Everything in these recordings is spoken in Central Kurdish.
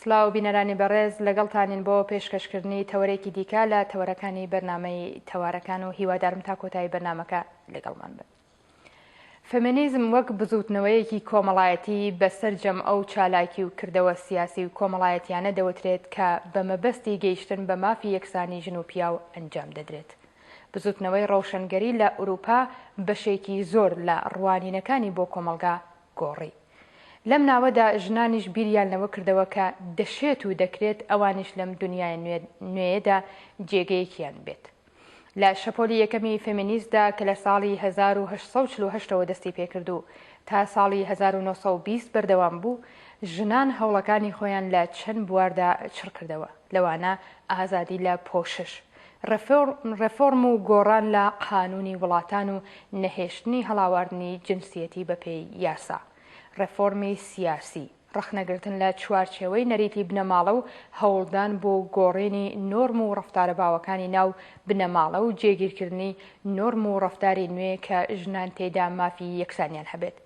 سڵاو بینەرانی بەڕێز لەگەڵتانین بۆ پێشکەشکردنی تەوەرێکی دیکە لە تەوەرەکانی بەرنامەی تەوارەکان و هیوادارم تا کۆتایی بەرنامەکە لەگەڵمان بن. فمینیزم وەک بزوتنەوەیەکی کۆمەڵایەتی بە سەرجەم ئەو چالاکی و کردەوە سیاسی و کۆمەڵایەتیانە دەوترێت کە بە مەبەستی گەیشتن بە مافی یەکسانی ژن و پیاو ئەنجام دەدرێت. بزوتنەوەی ڕەوشەنگەری لە ئوروپا بەشێکی زۆر لە ڕوانینەکانی بۆ کۆمەڵگا گۆڕی. لەم ناوەدا ژنانیش بیریان لەوە کردەوە کە دەشێت و دەکرێت ئەوانیش لەم دونیایە نوێیەدا جێگەیەکیان بێت. لە شەپۆلی یەکەمی فێمینیستدا کە لە ساڵی هەزار و هەشت سەد و چل و هەشت ەوە دەستی پێکرد و تا ساڵی هەزار و نۆ سەد و بیست بەردەوام بوو، ژنان هەوڵەکانی خۆیان لە چەند بواردا چڕکردەوە، لەوانە ئازادی لە پۆشش. ڕێفۆرم و گۆڕان لە قانوونی وڵاتان و نەهێشتنی هەڵاواردنی جنسیەتی بەپێی یاسا. ڕێفۆرمی سیاسی، ڕەخنەگرتن لە چوارچێوەی نەریتی بنەماڵە و هەوڵدان بۆ گۆڕینی نۆرم و ڕەفتارە باوەکانی ناو بنەماڵە و جێگیرکردنی نۆرم و ڕەفتاری نوێ کە ژنان تێیدا مافی یەکسانیان هەبێت.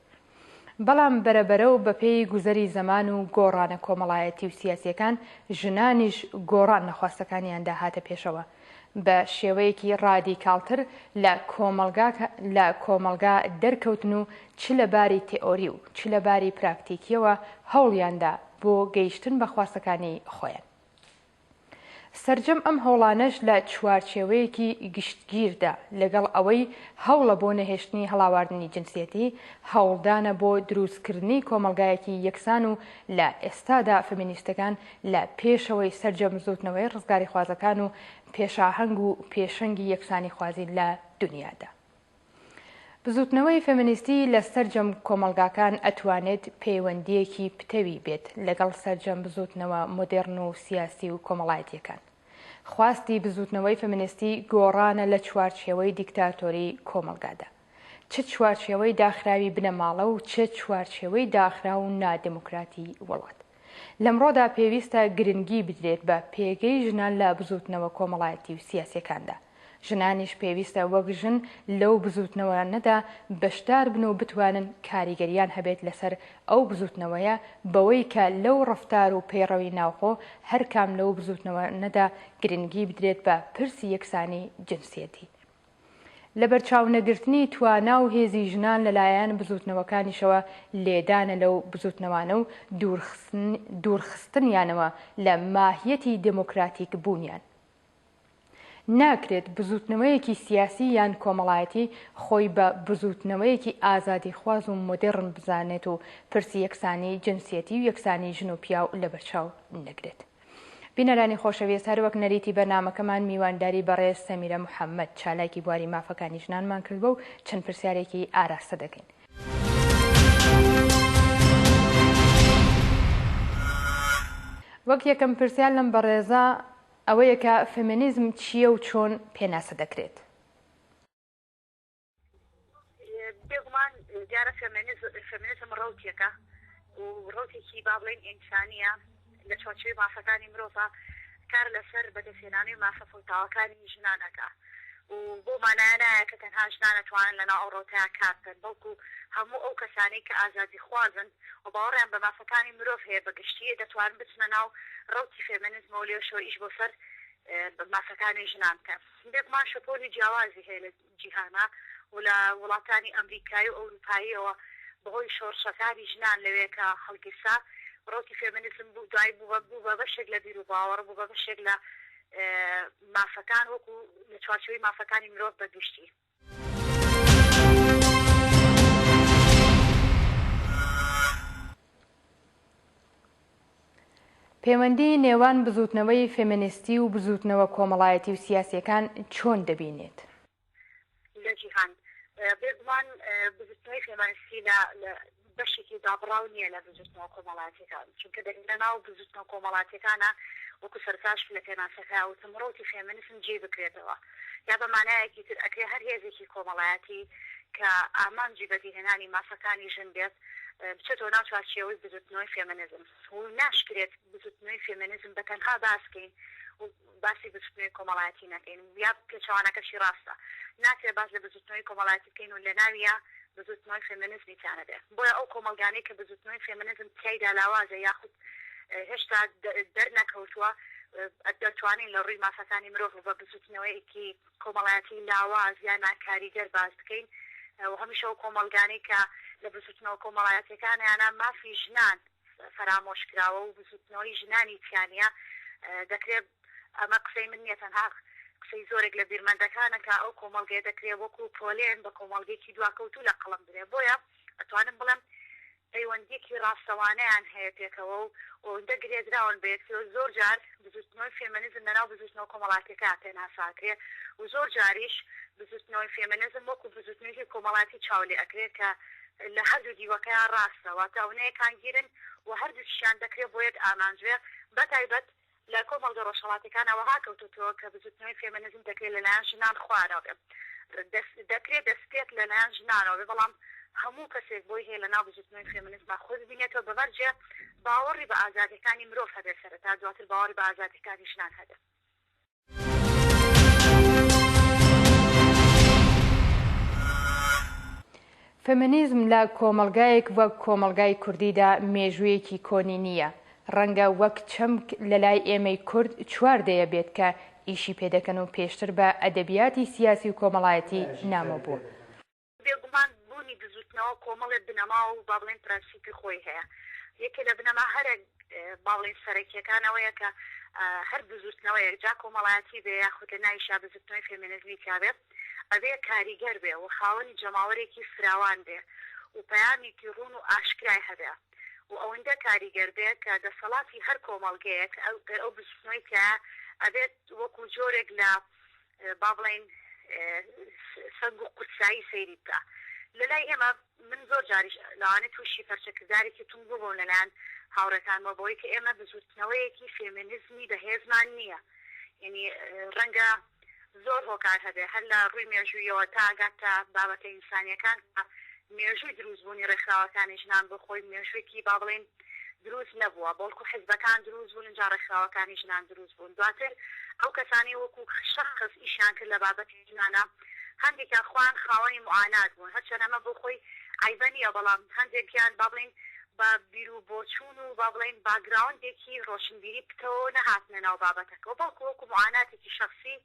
بەڵام بەرە بەرە و بە پێی گوزەری زەمان و گۆڕانە کۆمەڵایەتی و سیاسیەکان ژنانیش گۆڕان لە خواستەکانیاندا هاتە پێشەوە بە شێوەیەکی ڕادیکاڵتر لە کۆمەڵگا لە کۆمەڵگا دەرکەوتن و چ لە باری تێئۆری و چ لە باری پراکتیکیەوە هەوڵیاندا بۆ گەیشتن بە خواستەکانی خۆیان. سەرجەم ئەم هەوڵانەش لە چوارچێوەیەکی گشتگیردا، لەگەڵ ئەوەی هەوڵە بۆ نەهێشتنی هەڵاواردنی جنسیەتی، هەوڵدانە بۆ دروستکردنی کۆمەڵگایەکی یەکسان و لە ئێستادا فمینیستەکان لە پێشەوەی سەرجەم بزووتنەوەی ڕزگاریخوازەکان و پێشاهەنگ و پێشەنگی یەکسانیخوازین لە دونیادا. بزوتنەوەی فێمنیستی لە سەرجەم کۆمەڵگاکان ئەتوانێت پەیوەندییەکی پتەوی بێت لەگەڵ سەرجەم بزوتنەوە مۆدێڕن و سیاسی و کۆمەڵایەتییەکان. خواستی بزوتنەوەی فێمنیستی گۆڕانە لە چوارچێوەی دیکتاتۆری کۆمەڵگادا. چ چوارچێوەی داخراوی بنەماڵە و چ چوارچێوەی داخراو و نادێموکراتی وڵات. لەمڕۆدا پێویستە گرنگی بدرێت بە پێگەی ژنان لە بزووتنەوە کۆمەڵایەتی و سیاسیەکاندا، ژنانیش پێویستە وەک ژن لەو بزووتنەوەانەدا بەشدار بن و بتوانن کاریگەریان هەبێت لەسەر ئەو بزووتنەوەیە بەوەی کە لەو ڕەفتار و پەیڕەوی ناوخۆ هەرکام لەو بزووتنەوەانەدا گرنگی بدرێت بە پرسی یەکسانی جنسیەتی. لەبەرچاونەگرتنی توانا و هێزی ژنان لەلایەن بزووتنەوەکانیشەوە لێدانە لەو بزووتنەوانە و دوورخستنیانەوە لە ماهیەتی دێمۆکراتیک بوونیان. ناکرێت بزووتنەوەیەکی سیاسی یان کۆمەڵایەتی خۆی بە بزووتنەوەیەکی ئازادیخواز و مۆدێڕن بزانێت و پرسی یەکسانی جنسیەتی و یەکسانی ژن و پیاو لەبەرچاو نەگرێت. بینەرانی خۆشەویست هەروەک نەریتی بەرنامەکەمان میوانداری بەڕێز سەمیرە محەمەد چالاکی بواری مافەکانی ژنانمان کردوە و چەند پرسیارێکی ئاراستە دەکەین. وەک یەکەم پرسیار لەم بەڕێزە ئەوەیە کە فێمینیزم چییە و چۆن پێناسە دەکرێت؟ بێگومان دیارە فێمینیزم ڕەوتێکە و ڕەوتێکی با بڵێین ئینسانییە لە چوارچێوەی مافەکانی مرۆڤە کار لەسەر بەدەستهێنانی مافە فەوتاوەکانی ژنان ئەکا و بەو مانایە نایە کە تەنها ژنان ئەتوانن لەناو ئەو ڕەوتەیە کار بکەن بەڵکوو هەموو ئەو کەسانەی کە ئازادیخوازن و باوەڕیان بە مافەکانی مرۆڤ هەیە بە گشتی دەتوانن بچنە ناو ڕەوتی فێمینیزمەوە و لێرەشەوە ئیش بۆ سەر مافەکانی ژنان بکەن بێگومان شەپۆلی جیاوازی هەیە جیهانە و لە وڵاتانی ئەمریکایی و ئەوروپاییەوە بەهۆی شۆڕشەکانی ژنان لەوێ کە هەڵگیرسا ڕەوتی فێمینیزم بوو دوای بوو بە بەشێک لە بیروباوەڕ بوو بە بەشێک لە مافەکان وەکو لە چوارچێوەی مافەکانی مرۆڤ بە گشتی. پێوەندی نێوان بزووتنەوەی فێمێنیستی و بزووتنەوە کۆمەڵایەتی و سیاسییەکان چۆن دەبینێت؟ لە جیهان بێگومان بزووتنەوەی فێمانیستی لە بەشێکی دابڕاو نییە لە بزووتنەوە کۆمەڵاتیەکان، چونکە دەگەنە ناو بزووتنەوە کۆمەڵاتیەکانە وەکو سەرتاش لە پێناسەکە وتم ڕەوتی فێمێنیسم جێی بکرێتەوە. یا بە مانایەکی تر ئەکرێ هەر هێزێکی کۆمەڵایەتی کە ئامانجی بەدیهێنانی مافەکانی ژن بێت بچێتەوە ناو چوارچێوەی بزوتنەوەی فێمەنیزم و ناشکرێت بزوتنەوەی فێمەنیزم بە تەنها باس کەین و باسی بزوتنەوەی کۆمەڵایەتی نەکەین و یا پێچەوانەکەشی ڕاستە ناکرێت باس لە بزوتنەوەی کۆمەڵایەتی بکەین و لەناویە بزوتنەوەی فێمەنیزمی تیا نەبێت بۆیە ئەو کۆمەڵگانەی کە بزوتنەوەی فێمەنیزم تیایدا لاوازە یاخود هێشتا دەرنەکەوتووە، دەتوانین لە ڕووی مافەکانی مرۆڤ و بە بزووتنەوەیەکی کۆمەڵایەتی لاواز یا ناکاریگەر باس بکەین و هەمیشە ئەو کۆمەڵگانەی کە لە بزووتنەوە کۆمەڵایەتیەکانیانە مافی ژنان فەرامۆش کراوە و بزووتنەوەی ژنانی تیانە دەکرێت ئەمە قسەی من نیە تەنها قسەی زۆرێک لە بیرمەندەکانە کە ئەو کۆمەڵگەیە دەکرێت وەکو پۆلێن بە کۆمەڵگەیەکی دواکەوتوو لە قەڵم درێ بۆیە ئەتوانم بڵێم پەیوەندییەکی ڕاستەوانەیان هەیە پێکەوە و ئەوەندە گرێدراون بە یەکتری و زۆر جار بزووتنەوەی فێمێنزم لەناو بزووتنەوە کۆمەڵاتییەکان پێناسە ئەکرێ و زۆر جاریش بزووتنەوەی فێمێنزم وەکوو بزووتنویەکی کۆمەڵاتی چاو لێ ئەکرێ کە لە هەردوو دیوەکەیان ڕاستە واتە ئەونە یەکانگیرن و هەردووکیشیان دەکرێ بۆ یەک ئامانج بێ بەتایبەت لە کۆمەڵگە ڕۆژهەڵاتیەکانا وەها کەوتۆتەوە کە بزوتنەوەی فێمێنزم دەکرێت لەلایەن ژنان خوارەوە بێ دەکرێت دەسپێت لەلایەن ژنانەوە بێ بەڵام هەموو کەسێک بۆی هەیە لەناو بزوتنەوەی فێمێنزما خۆی ببینێتەوە بە مەرجێ باوەڕی بە ئازادیەکانی مرۆڤ هەبێ سەرەتا دواتر باوەڕی بە ئازادیەکانی ژنان هەبێ. فێمینیزم لە کۆمەڵگایەک وەک کۆمەڵگای کوردیدا مێژوویەکی کۆنی نییە. ڕەنگە وەک چەمک لە لای ئێمەی کورد چوار دەیە بێت کە ئیشی پێ دەکەن و پێشتر بە ئەدەبیاتی سیاسی و کۆمەڵایەتی نامۆ بووە. بێگومان بوونی بزووتنەوە کۆمەڵێ بنەما و با بڵێین پرەنسیپی خۆی هەیە. یەکێ لە بنەما هەرە با بڵێین سەرەکییەکان ئەوەیە کە هەر بزووتنەوەیەک جا کۆمەڵایەتی بێ یاخود لە ناویشا بزووتنەوەی فێمینزمی تیا بێ ئەبێ کاریگەر بێ و خاوەنی جەماوەرێکی فراوان بێ و پەیامێکی ڕوون و ئاشکرای هەبێ و ئەوەندە کاریگەر بێ کە دەسەڵاتی هەر کۆمەڵگەیەک گەر ئەو بزووتنەوەی تیایە ئەبێت وەکوو جۆرێک لە با بڵێین سەنگ و قورسایی سەیری بکە لەلای ئێمە، من زۆر جاریش لەوانەیە تووشی پەرچەکردارێکی توند بووبم لەلایەن هاوڕێکانمەوە بەوەی کە ئێمە بزووتنەوەیەکی فێمێنیزمی بەهێزمان نییە یەنی ڕەنگە زۆر هۆکار هەبێ هەر لە ڕووی مێژوویەوە تا ئەگات تا بابەتە ئینسانیەکان مێژووی درووستبوونی ڕێکخراوەکانی ژنان بۆ خۆی مێژووێکی با بڵێین دروست نەبووە بەڵکو حزبەکان دروست بوون ئینجا ڕێکخراوەکانی ژنان دروست بوون دواتر ئەو کەسانەی وەکو شەخس ئیشیان کرد لە بابەتی ژنانا هەندێکیان خۆیان خاوەنی معانات بوون هەرچەنە ئەمە بۆ خۆی عەیبە نییە بەڵام هەندێکیان با بڵێین بە بیرو بۆچوون و با بڵێین باگراوندێکی ڕۆشنبیری پتەوە نەهاتنە ناو بابەتەکەوە بەڵکو وەکو معاناتێکی شەخسی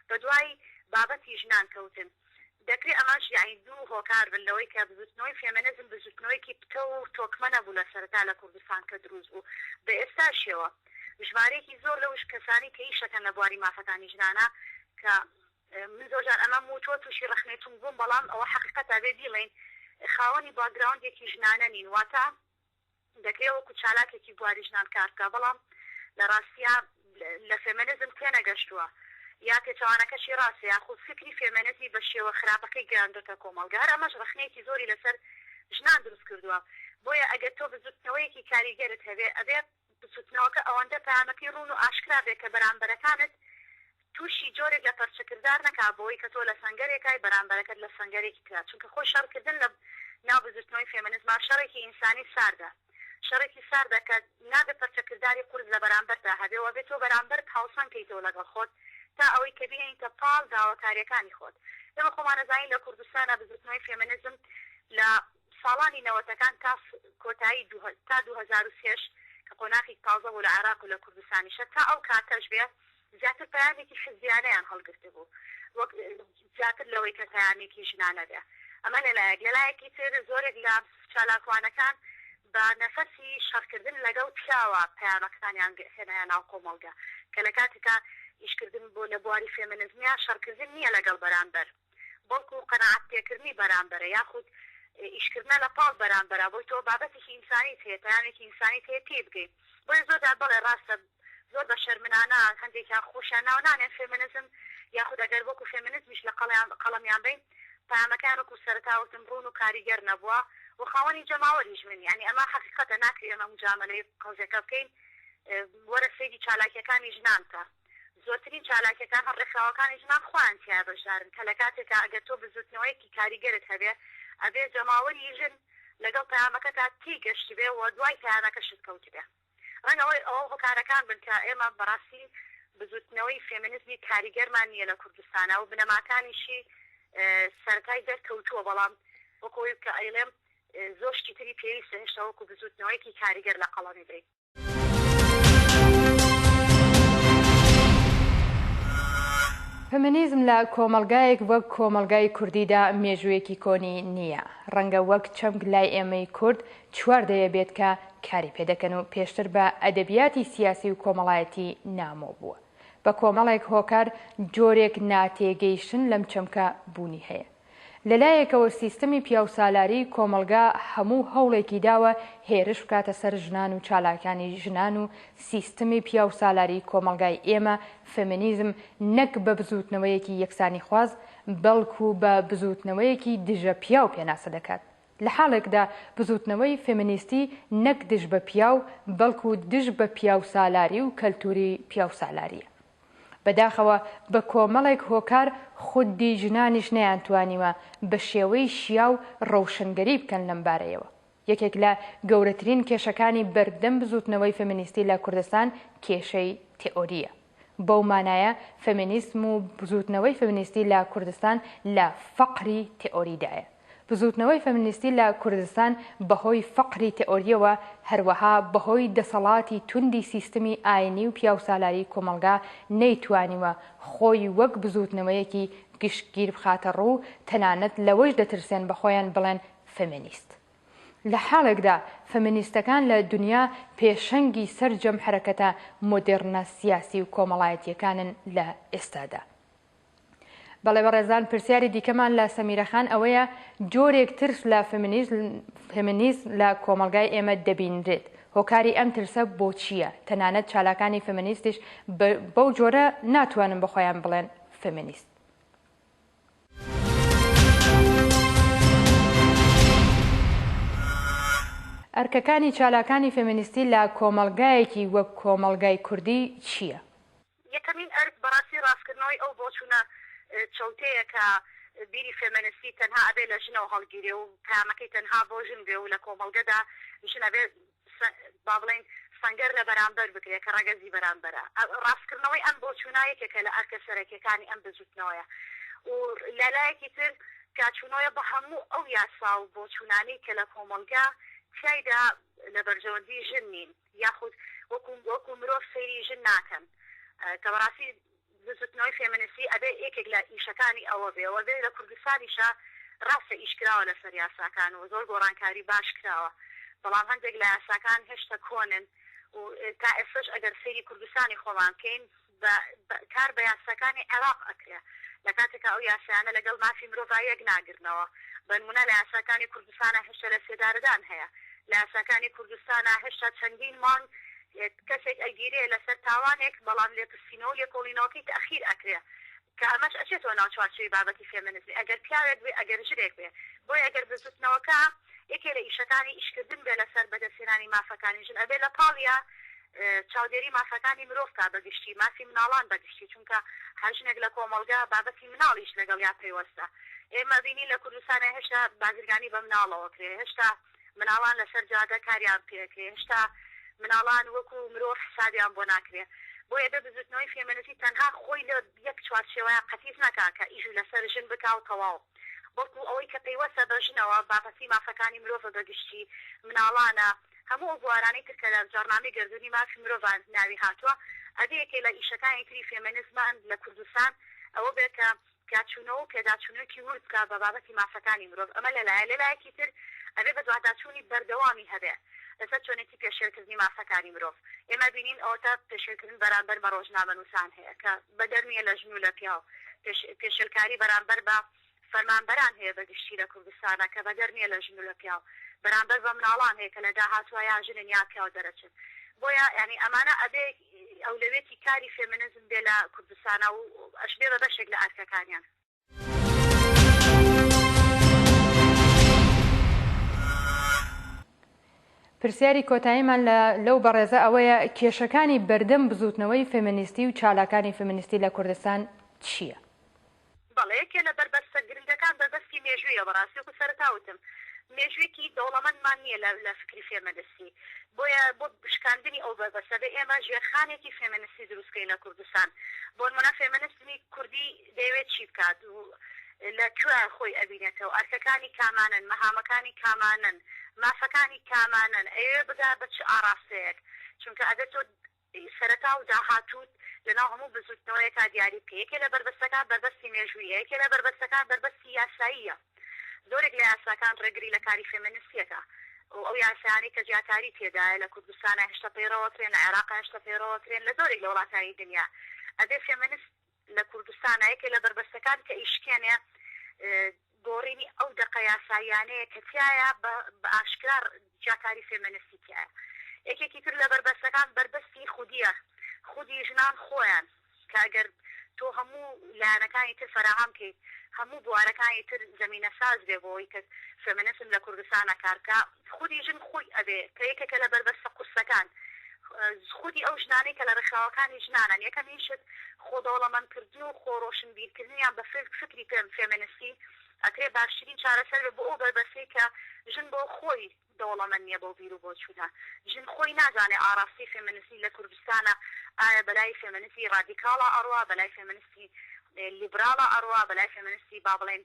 بەدوای بابەتی ژنان کەوتن. دەکرێ ئەمەش یەعنی دوو هۆکار بن لەوەی کە بزوتنەوەی فێمێنزم بزوتنەوەیەکی پتەو و تۆکمە نەبوو لە سەرەتا لە کوردستان کە دروست بوو بە ئێستاشیەوە ژمارەیەکی زۆر لەو کەسانی کە ئیشەکەن لە بواری مافەکانی ژنانە کە من زۆر جار ئەمەم وتوە توشی رەخنەی توند بووم بەڵام ئەوە حەقیقەتە بێ بیڵێین خاوەنی باکگراوندێکی ژنانە نین واتە دەکرێ وەکو چالاکێکی بواری ژنان کار بکا بەڵام لە ڕاستیا لە فێمێنزم تێنەگەشتووە یا پێچەوانەکەشی ڕاستە یاخود فیکری فێمێنزی بە شێوە خراپەکەی گەیاندۆتە کۆمەڵگە هەر ئەمەش ڕەخنەیەکی زۆری لەسەر ژنان دروست کردووە بۆیە ئەگەر تۆ بزوتنەوەیەکی کاریگەرت هەبێ ئەبێ بزوتنەوەکە ئەوەندە پەیامەکەی ڕوون و ئاشکرا بێ کە بەرامبەرەکانت توشی جۆرێک لە پەرچەکردار نەکا بەوەی کە تۆ لە سەنگەرێکای بەرامبەرەکەت لە سەنگەرێکی ترا چونکە خۆی شەڕکردن لە ناو بزوتنەوەی فێمنزما شەڕێکی ئینسانی ساردە شەڕێکی ساردە کە نابێ پەرچەکرداری قورس لە بەرامبەرتا هەبێ وەبێ تۆ بەرامبەرت هاوسەنگ کەیتەوە لەگەڵ خۆت تا ئەوەی کە بهێنیتە پاڵ داواکاریەکانی خۆت ئێمە خۆمان ئەزانین لە کوردستانا بزوتنەوەی فێمنزم لە ساڵانی نەوەتەکان تا کۆتایی دوو تا دوو هەزار و سێ ش کە قۆناخی تازە بوو لە عێراق و لە کوردستانیشە تا ئەو کاتەش بێ زیاتر پەیامێکی حزبیانەیان هەڵگرتبوو وەک زیاتر لەوەی کە پەیامێکی ژنانە بێ ئەمە لە لایەک لە لایەکی تر زۆرێک لە چالاکوانەکان بە نەفەسی شەڕکردن لەگەڵ پیاوە پەیامەکانیان هێنایە ناو کۆمەڵگە کە لە کاتێکا ئیشکردن بۆ لە بواری فێمێنزمیا شەڕکردن نیە لەگەڵ بەرامبەر بەڵکو قەناعەت پێکردنی بەرامبەرە یاخود ئیشکردنە لە پاڵ بەرامبەرا بۆی تۆ بابەتێکی ئینسانیت هەیە پەیامێکی ئینسانیت هەیە تێی بگەی بۆیە زۆر جار بەڵێ ڕاستە زۆر بە شەرمنانە هەندێکیان خۆشیان ناو نانێن فێمنزم یاخود ئەگەر وەکو فێمنزمیش لە قەڵیان قەڵەمیان بەین پەیامەکەیان وەکو سەرەتا وتم ڕوون و کاریگەر نەبووە و خاوەنی جەماوەریش من یانی ئەمە حەقیقەتە ناکری ئەمە موجامەلەی قەوزێکە بکەین وەرە سەیری چالاکیەکانی ژنان کە. زۆرترین چالاکیەکان هەم ڕێکخراوەکانی ژنان خۆیان تیایا بەشدارن کە لەکاتێکا ئەگەر تۆ بزوتنەوەیەکی کاریگەرت هەبێ ئەبێ جەماوەری ژن لەگەڵ پەیامەکەتا تێی گەشتبێ و دوای پەیامەکەشت کەوتبێ ڕەنگە هۆی ئەوە هۆکارەکان بن کە ئێمە بەڕاستی بزوتنەوەی فێمینزمی کاریگەرمان نیە لە کوردستانا و بنەماکانیشی سەرەتای دەرکەوتووە بەڵام وەک ئەوەی کە ئەیڵێم زۆر شتی تری پێویستە هێشتا وەکو بزوتنەوەیەکی کاریگەر لەقەڵەمی بەین. فمینیزم لە کۆمەڵگایەک وەک کۆمەڵگای کوردیدا مێژوویەکی کۆنی نییە. ڕەنگە وەک چەمک لای ئێمەی کورد چوار دەیە بێت کە کاری پێ دەکەن و پێشتر بە ئەدەبیاتی سیاسی و کۆمەڵایەتی نامۆ بووە. بە کۆمەڵێک هۆکار جۆرێک ناتێگەیشتن لەم چەمکە بوونی هەیە. لەلایەکەوە سیستمی پیاوسالاری کۆمەڵگا هەموو هەوڵێکی داوە هێرش بکاتە سەر ژنان و چالاکانی ژنان و سیستمی پیاوسالاری کۆمەڵگای ئێمە فێمینیزم نەک بە بزووتنەوەیەکی یەکسانیخواز بەڵکو بە بزووتنەوەیەکی دژە پیاو پێناسە دەکات لە حاڵێکدا بزووتنەوەی فێمینیستی نەک دژ بە پیاو بەڵکو دژ بە پیاوسالاری و کەلتووری پیاوسالارییە. بەداخەوە بە کۆمەڵێک هۆکار خودی ژنانیش نەیانتوانیوە بە شێوەی شیاو ڕۆشنگەری بکەن لەم بارەیەوە. یەکێک لە گەورەترین کێشەکانی بەردەم بزووتنەوەی فێمینیستی لە کوردستان کێشەی تێئۆرییە. بەو مانایە فێمینیسم و بزووتنەوەی فێمینیستی لە کوردستان لە فەقری تێئۆریدایە. بزووتنەوەی فەمنیستی لە کوردستان بەهۆی فەقری تئۆرییەوە، هەروەها بەهۆی دەسەڵاتی توندی سیستمی ئایینی و پیاوسالاری کۆمەڵگا نەیتوانیوە خۆی وەک بزووتنەوەیەکی گشتگیر بخاتە ڕوو و تەنانەت لەوەیش دەترسێن بە خۆیان بڵێن فەمنیست. لە حاڵێکدا فەمنیستەکان لە دنیا پێشەنگی سەرجەم حەرەکەتە مۆدێڕنە سیاسی و کۆمەڵایەتییەکانن لە ئێستادا. بەڵێ بەڕێزان پرسیاری دیکەمان لە سەمیرە خان ئەوەیە جۆرێک ترس لە فمنیزم لە کۆمەلگای ئێمە دەبینرێت هۆکاری ئەم ترسە بۆ چییە تەنانەت چالاکانی فمنیستیش بەو جۆرە ناتوانن بەخۆیان بڵێن فمنیست ئەرکەکانی چالاکانی فمنیستی لە کۆمەلگایەکی وەک کۆمەلگای کوردی چییە؟ یەکەمین ئەرک بەڕاستی ڕاستکردنەوەی ئەو بۆچوونە چەوتەیە کە بیری فێمێنستی تەنها ئەبێ لە ژنەوە هەڵگیرێ و پەیامەکەی تەنها بۆ ژن بێ و لە کۆمەڵگەدا ژن ئەبێ با بڵێین سەنگەر لە بەرامبەر بگرێ کە ڕەگەزی بەرامبەرە. ڕاستکردنەوەی ئەم بۆچوونە یەکێکە لە ئەرکە سەرەکییەکانی ئەم بزووتنەوەیە و لە لایەکی تر کارچوونەوەیە بۆ هەموو ئەو یاسا و بۆچوونانەی کە لە کۆمەڵگە تیایدا لە بەرژەوەندی ژن نین. یاخود وەکو وەکو مرۆڤ سەیری ژن ناکەن کە بەڕاستی بزوتنەوەی فێمنسی ئەبێ یەکێک لە ئیشەکانی ئەوە بێ وە بێ لە کوردستانیشا ڕاستە ئیش کراوە لەسەر یاساکان و زۆر گۆڕانکاری باش کراوە بەڵام هەندێک لە یاساکان هێشتە کۆنن و تا ئێستەش ئەگەر سەیری کوردستانی خۆمان بکەین بە بە کار بە یاساکانی عێراق ئەکرێ لە کاتێکا ئەو یاسایانە لە گەڵ مافی مرۆڤا یەک ناگرنەوە بەنمونە لە یاساکانی کوردستانا هێشتا لە سێدارەدان هەیە لە یاساکانی کوردستانا هێشتا چەندین مانگ کەسێک ئەگیرێ لە سەر تاوانێک بەڵام لێپرسینەوەو لێکۆڵینەوەکەی تەئخیر ئەکرێ کە ئەمەش ئەچێتەوە ناو چوارچێوی بابەتی فێمێنزمی ئەگەر پیاوێک بێ ئەگەر ژنێک بێ بۆیە ئەگەر بزوتنەوەکە یەکێ لە ئیشەکانی ئیشکردن بێ لەسەر بەدەستهێنانی مافەکانی ژن ئەبێ لە پاڵیا چاودێری مافەکانی مرۆڤ کا بە گشتی مافی مناڵان بە گشتی چونکە هەر ژنێک لە کۆمەڵگا بابەتی مناڵیش لەگەڵیا پەیوەستە ئێمە بینی لە کوردستانە هێشتا بازرگانی بە مناڵەوە کرێ هێشتا مناڵان لەسەر جادە کاریان پێکرێ هێشتا مناڵان وەکو مرۆڤ حسابیان بۆ ناکرێ بۆیە بێ بزوتنەوەی فێمێنسی تەنها خۆی لە یەک چوارچێوەیا قەتیس نەکا کە ئیش لەسەر ژن بکا و تەواو بەڵکو ئەوەی کە پەیوەسە بە ژنەوە بابەتی مافەکانی مرۆڤە بە گشتی مناڵانە هەموو ئەو بوارانەی تر کە لە جاڕنامەی گەردونی مافی مرۆڤان ناوی هاتوە ئەبێ یەکێ لە ئیشەکانی تری فێمێنزمان لە کوردستان ئەوە بێ کە تیاچوونەوە و پێداچوونەوەکی ورد بکا بە بابەتی مافەکانی مرۆڤ، ئەمە لە لایە، لە لایەکی تر ئەبێ بەدواداچوونی بەردەوامی هەبێ لەسەر چۆنێتی پێشێلکردنی مافەکانی مرۆڤ، ئێمە بینین ئەوەتا پێشێلکردن بەرانبەر بە ڕۆژنامەنووسان هەیە کە بەدەر نییە لە ژن و لە پیاو، پێشێلکاری بەرانبەر بە فەرمانبەران هەیە بە گشتی لە کوردستانا کە بەدەر نییە لە ژن و لە پیاو، بەرانبەر بە مناڵان هەیە کە لە داهاتوا یا ژنن یا پیاو دەرەچن، بۆیە یانی ئەمانە ئەبێ. ئەولەوێتی کاری فێمنزم بێ لە کوردستانا و ئەشبێ بە بەشێک لە ئەرکەکانیان. پرسیاری کۆتاییمان لە لەو بەڕێزە ئەوەیە کێشەکانی بەردەم بزووتنەوەی فێمنیستی و چالاکانی فێمنیستی لە کوردستان چییە؟ بەڵێ یەکێ لە بەربەستە گرنگەکان بەربەستی مێژوویە بەڕاستی وەکو سەرەتا وتم مێژوویەکی دەوڵەمەندمان نیە لە لە فکری فێمەنستی بۆیە بۆ شکاندنی ئەو بەربەستە بێ ئێمە ژێرخانێکی فێمەنستی دروست کەین لە کوردستان بۆنمونە فێمەنستمی کوردی دەیەوێت چی بکات و لە کوێ خۆی ئەبینێتەوە ئەرکەکانی کامانەن مەهامەکانی کامانەن مافەکانی کامانەن ئەیەوێ بگا بە چ ئاڕاستەیەک چونکە ئەگەر تۆ ی سەرەتا و داهاتووت لەناو هەموو بزووتنەوەیەکا دیاری بکە. یەکێ لە بەربەستەکان بەربەستی مێژووییە، یەکێ لە بەربەستەکان بەربەستی یاساییە. زۆرێک لە یاساکان ڕێگری لە کاری فێمێنست یەکە و ئەو یاسایانەی کە جیاکاری تێدایە لە کوردستانا هێشتا پەیڕەوە کرێن، لە عێڕاقا هێشتا پەیڕەوە کرێن، لە زۆرێک لە وڵاتانی دنیا ئەبێ فێمێنست، لە کوردستانا یەکێ لە بەربەستەکان کە ئیشکێنێ گۆڕینی ئەو دەقە یاساییانەیە کە تیایا بە ئاشکرا جیاکاری فێمێنستی تیایە یەکێکی تر لە بەربەستەکان بەربەستی خودیە خودی ژنان خۆیان کە ئەگەر تۆ هەموو لایەنەکانی تر فەراهەم کەیت هەموو بوارەکانی تر زەمینە ساز بێ بۆ ئەوەی کە فێمێنسم لە کوردستانا کار بکا خودی ژن خۆی ئەبێ کە یەکێکە لە بەربەستە قورسەکان، خودی ئەو ژنانەی کە لە ڕێکخراوەکانی ژنانەن، یەکەمین شت خۆ دەوڵەمەندکردن و خۆ ڕۆشنبیرکردن یان بە فکری فێمێنستی ئەکرێ باشترین چارەسەر بێ بۆ ئەو بەربەستەی کە ژن بۆ خۆی دەوڵەمەند نییە بەو بیر و بۆچوونە، ژن خۆی نازانێ ئاڕاستەی فێمێنستی لە کوردستانا ئایا بە لای فێمێنستی ڕادیکاڵا ئەڕوا، بە لای فێمێنستی لیبراڵا ئەڕوا، بە لای فێمێنستی با بڵێین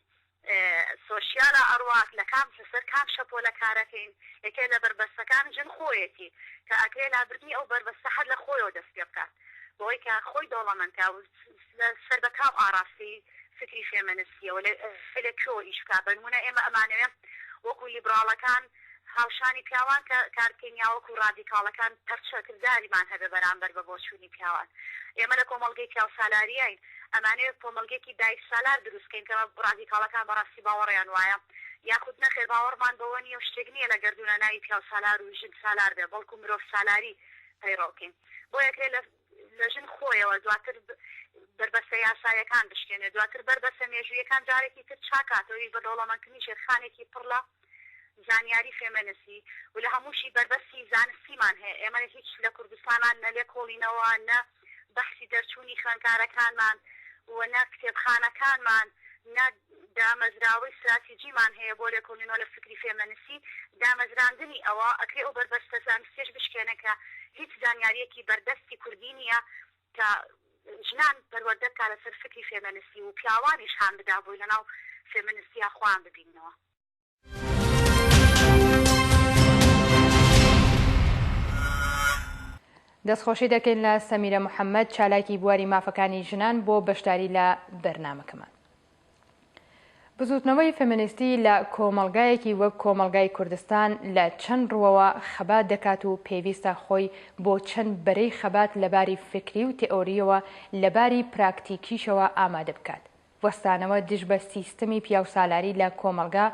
سۆشیالە ئەڕوات لە کام لەسەر کام شەپۆلە کارەکەین یەکێ لە بەربەستەکان ژن خۆیەتی کە ئەکرێ لابردنی ئەو بەربەستە هەر لە خۆیەوە دەست پێ بکات بەوەی کە خۆی دەوڵەمەند کا و سەر بە کام ئاڕاستەی فکری فێمەنستیەوە لە کوێوە ئیش بکات بەنمونە ئێمە ئەمانەوێ وەکو لیبڕاڵەکان هاوشانی پیاوان کە کاربکەین یا وەکو ڕادیکاڵەکان پەرچە کرداریمان هەبێ بەرامبەر بە بۆچوونی پیاوان. ئێمە لە کۆمەڵگەی پیاوسالاریین، ئەمانەوێ کۆمەڵگەیەکی دایکسالار دروستکەین کە ڕادیکاڵەکان بەڕاستی باوەڕیان وایە یاخود نەخێر باوەڕمان بەوە نییە و شتێک نییە لە گەردوونە ناوی پیاوسالار و ژنسالار بێ بەڵکو مرۆڤسالاری پەیڕەوکەین. بۆیەکرێ لە. لە ژن خۆیەوە، دواتر بەر بەستە یاساییەکان بشکێنێت، دواتر بەر بەستە مێژووییەکان جارێکی تر چاکاتەوەیش بە دەوڵەمەندکردنی ژێرخانێکی پڕ لە زانیاری فێمێنسی و لە هەمووشی بەر بەستی زانستیمان هەیە، ئێمە هیچ لە کوردستانا نە لێکۆڵینەوە نە بەحسی دەرچوونی خوێندکارەکانمان و نە کتێبخانەکانمان نە. دامەزراوەی ستراتیجیمان هەیە بۆ لێکۆلینەوە لە فکری فێمەنسی، دامەزراندنی ئەوە ئەکرێ ئەو بەربەستە زانستیەش بشکێنێ کە هیچ زانیاریەکی بەردەستی کوردی نیە کە ژنان پەروەردە بکا لەسەر فکری فێمەنسی و پیاوانیش هان بدا بۆی لەناو فێمەنستیا خۆیان ببیننەوە. دەستخۆشی دەکەین لە سەمیرە محەممەد چالاکی بواری مافەکانی ژنان بۆ بەشداری لە بەرنمەکەمان. بزوتنەوەی فەمەنیستی لە کۆمەلگایەکی وەک کۆمەلگای کوردستان لە چەند ڕوەوە خەبات دەکات و پێویستە خۆی بۆ چەند بەرەی خەبات لەباری فکری و تئۆریەوە لەباری پراکتیکیشەوە ئامادە بکات. وەستانەوە دژ بە سیستمی پیاوسالاری لە کۆمەڵگا،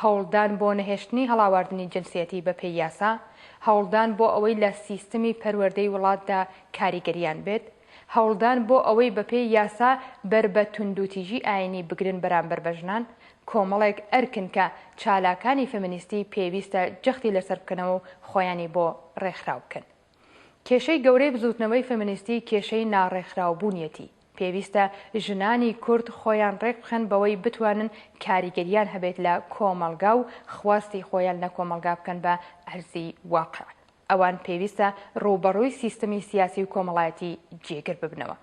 هەوڵدان بۆ نەهێشتنی هەڵاواردنی جنسیەتی بەپێی یاسا، هەوڵدان بۆ ئەوەی لە سیستمی پەروەردەی وڵاتدا کاریگەرییان بێت، هەوڵدان بۆ ئەوەی بەپێی یاسا بەر بە توندوتیژی ئایینی بگرن بەرامبەر بە ژنان، کۆمەڵێک ئەرکن کە چالاکانی فێمینیستی پێویستە جەختی لەسەر بکەنەوە و خۆیانی بۆ ڕێکخراو بکەن. کێشەی گەورەی بزووتنەوەی فێمینیستی کێشەی ناڕێکخراوبوونیەتی. پێویستە ژنانی کورد خۆیان ڕێکبخەن بەوەی بتوانن کاریگەریان هەبێت لە کۆمەڵگا و خواستی خۆیان لە کۆمەڵگا بکەن بە ئەرزی واقیع. ئەوان پێویستە ڕووبەڕووی سیستمی سیاسی و کۆمەڵایەتی جێگر ببنەوە.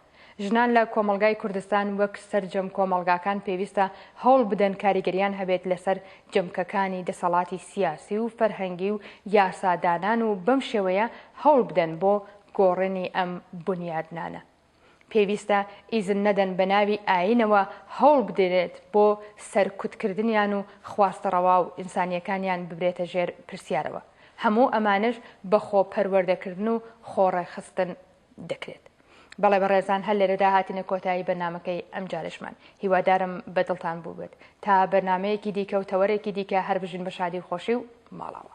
ژنان لە کۆمەڵگای کوردستان وەک سەرجەم کۆمەڵگاکان پێویستە هەوڵ بدەن کاریگەریان هەبێت لەسەر جەمکەکانی دەسەڵاتی سیاسی و فەرهەنگی و یاسادانان و بەم شێوەیە هەوڵ بدەن بۆ گۆڕێنی ئەم بونیادنانە پێویستە ئیزن نەدەن بە ناوی ئایینەوە هەوڵ بدرێت بۆ سەرکوتکردنیان و خواستە ڕەوا و ئینسانییەکانیان ببرێتە ژێر پرسیارەوە. هەموو ئەمانەش بە خۆ پەروەردەکردن و خۆ ڕێکخستن دەکرێت. بەڵێ بەڕێزان هەر لێرەدا هاتینە کۆتایی بەرنامەکەی ئەمجارەشمان. هیوادارم بە دڵتان بووبێت. تا بەرنامەیەکی دیکە و تەوەرێکی دیکە هەر بژین بە شادی و خۆشی و ماڵاوا.